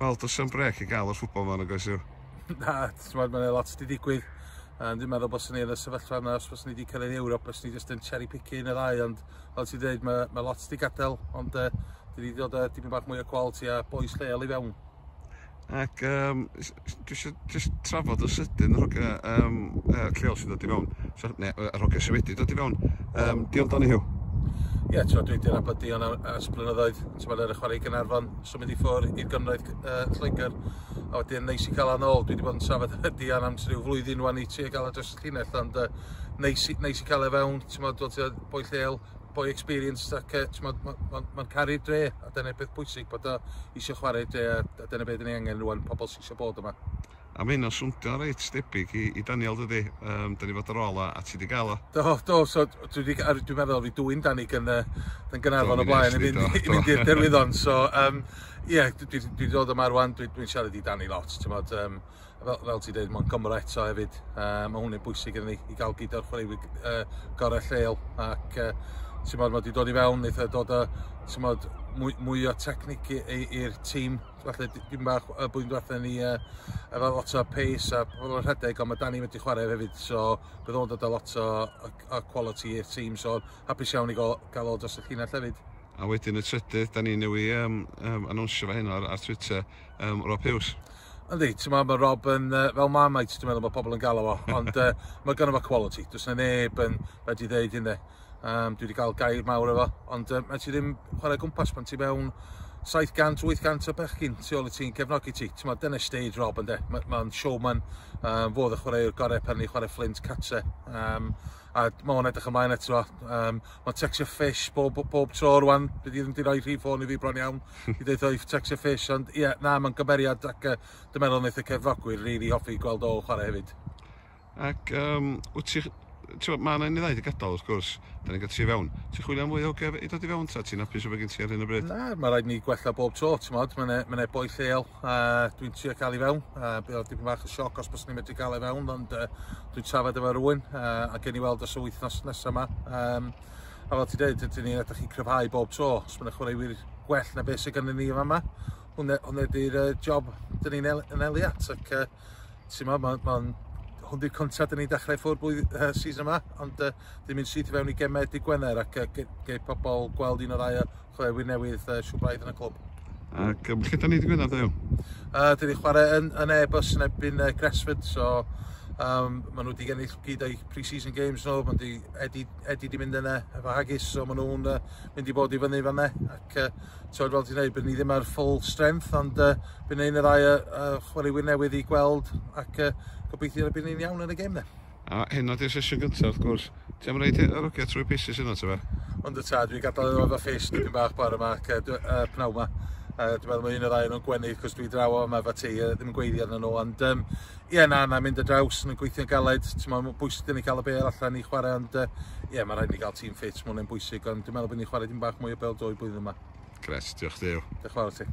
Wel, does am brec i gael yr ffwbol fan, oes yw? Na, ti'n meddwl, mae'n lot wedi digwydd. Um, dwi'n meddwl bod sy'n ei yn y sefyllfa yna, os bod ni wedi cael ei Ewrop, os ni jyst yn cherry picky yn y ddau, ond fel ti'n dweud, mae, mae lot wedi gadael, ond uh, dwi wedi dod â dipyn bach mwy o quality a boes lleol i fewn. Ac um, dwi eisiau just trafod yn sydyn yr hogea um, uh, lleol sy'n dod i fewn, so, ne, yr hogea sy'n wedi dod i fewn. Um, Diolch dan i hiw. Ie, yeah, dwi wedi nabod Dion ers blynyddoedd, ti'n meddwl ar y chwarae Gynarfon, so mynd i ffwr i'r gynraedd uh, Lloegr, a wedyn neis i cael anol, dwi wedi bod yn trafod efo Dion am rhyw flwyddyn wan i ti a gael y dros y llinell, ond uh, neis, neis i cael e fewn, ti'n meddwl, dwi'n boi lleol, boi experienced ac uh, mae'n ma, ma, ma caru'r dre a dyna'r peth bwysig bod o eisiau chwarae dre a, a dyna beth yn ei angen rwan, pobl sy'n eisiau bod yma. A mae hynna'n swntio reit debyg i, i Daniel dydy, um, dyn ni fod ar ôl a, a ti wedi gael o. Do, do, so dwi wedi, dwi'n meddwl fi dwy'n Dani gan, gan Gynarfon o blaen i fynd i'r derwyddon, so um, ie, yeah, dwi'n dwi, dwi dod yma rwan, dwi'n dwi siarad i Dani lot, ti'n modd, um, fel, fel ti dweud, mae'n Gymro eto hefyd. Uh, mae hwnna'n bwysig yn ni i gael gyd o'r chwaraewyr uh, gorau lleol. Ac uh, ti'n modd, mae wedi dod i fewn, eitha dod o, ti'n modd, mwy, mwy o technic i'r tîm. Felly, dim bach y bwy'n dweud ni uh, efo lot o pace a pobl yn rhedeg, ond mae Dani wedi chwarae hefyd. So, bydd o'n dod o lot o, o, o quality i'r tîm. So, hapus iawn i gael, gael o dros y llinell hefyd. A wedyn y trydydd, da ni newy um, um, anwnsio fe hyn ar, ar Twitter, um, Rob Hughes. Yndi, ti'n meddwl, mae Rob yn, uh, fel Marmite, dwi'n meddwl bod pobl yn galw o, ond uh, mae gynnu fo quality. Dwi'n yna neb yn wedi ddeud hynny. Um, dwi wedi cael gair mawr efo, ond uh, mae ti ddim chwarae gwmpas pan ti mewn 700-800 o bechgyn tu ôl i ti'n cefnogi ti. Ti'n meddwl, dyna stage Rob yn de. Mae'n ma showman, um, fodd y chwaraewr gorau pan ni chwarae Flint Catse. Um, a mae o'n edrych ymlaen eto. Um, mae Texture Fish bob, bob tro rwan, bydd i ddim wedi rhoi rhif ffôn i fi bron iawn i ddeud o'i Texture Fish, ond ie, yeah, na, mae'n gymeriad ac uh, dwi'n meddwl wnaeth y cefnogwyr rili really hoffi gweld ôl chwarae hefyd. Ac um, wyt ti, ti'n mae yna un i ddaid i gadael wrth gwrs, da ni'n gallu fewn. Ti'n chwilio am fwy o gef i dod i fewn ta, ti'n apus o fe gen ti ar hyn o bryd? Na, mae rhaid ni gwella bob tro, ti'n modd, mae'n e, mae e boi lleol, Uh, dwi'n trio cael i fewn, uh, bydd oedd dipyn bach o sioc os bys ni'n medru cael ei fewn, ond uh, dwi'n trafod efo rwy'n, uh, a gen i weld os y wythnos nesaf yma. Um, a fel ti dweud, ydyn ni'n edrych i cryfhau bob tro, os mae'n chwaraewyr gwell na beth sydd gennym ni yma, hwnna, hwnna di'r uh, job dyn ni'n el, yn eliat, ac uh, Ti'n ma, mae'n ma hwn di'r cyntaf dyn ni'n dechrau ffwrdd blwydd uh, season yma, ond uh, dyn ni'n syth i fewn i gemau dy Gwener ac uh, ge, ge pobl gweld un o'r ddau chwaraewyr newydd uh, siw braidd yn y clwb. Ac um, lle da ni dy Gwener, ddew? Uh, dyn ni'n chwarae yn, yn e-bus yn ebyn uh, Gresford, so um, maen nhw wedi gennill gyd o'i pre-season games nhw, maen nhw wedi Eddie wedi mynd yna efo Haggis, so maen nhw'n uh, mynd i bod i fyny fan yna. ac uh, tywed fel ti'n dweud, byddwn ni ddim ar full strength, ond uh, byddwn ni'n y ddau uh, uh, chwaraewyr newydd i gweld ac uh, gobeithio byddwn ni'n iawn yn y gêm A hyn oedd i'r sesiwn gyntaf, wrth gwrs. Ti'n am reid yr ogia trwy pieces yna, ti'n fe? Ond y ta, dwi'n gadael iddo efo ffis dipyn bach bore yma ac uh, pnaw yma. Uh, dwi'n meddwl mae un o'r ddau nhw'n gwenu, cos dwi draw o yma efo ti, uh, ddim yn gweiddi arnyn nhw, ond um, Ie na na mynd y draws yn gweithio'n galed t'mo' ma'n bwysig i ni cael y bêl allan i chwarae ond yy ie ma' rhaid i ni gael tîm ffit ma' hwnna'n bwysig ond dwi'n meddwl bod ni'n chwarae dim bach mwy o bêl dwy blwyddyn yma. Grêt, diolch Duw. Diolch yn fawr i ti.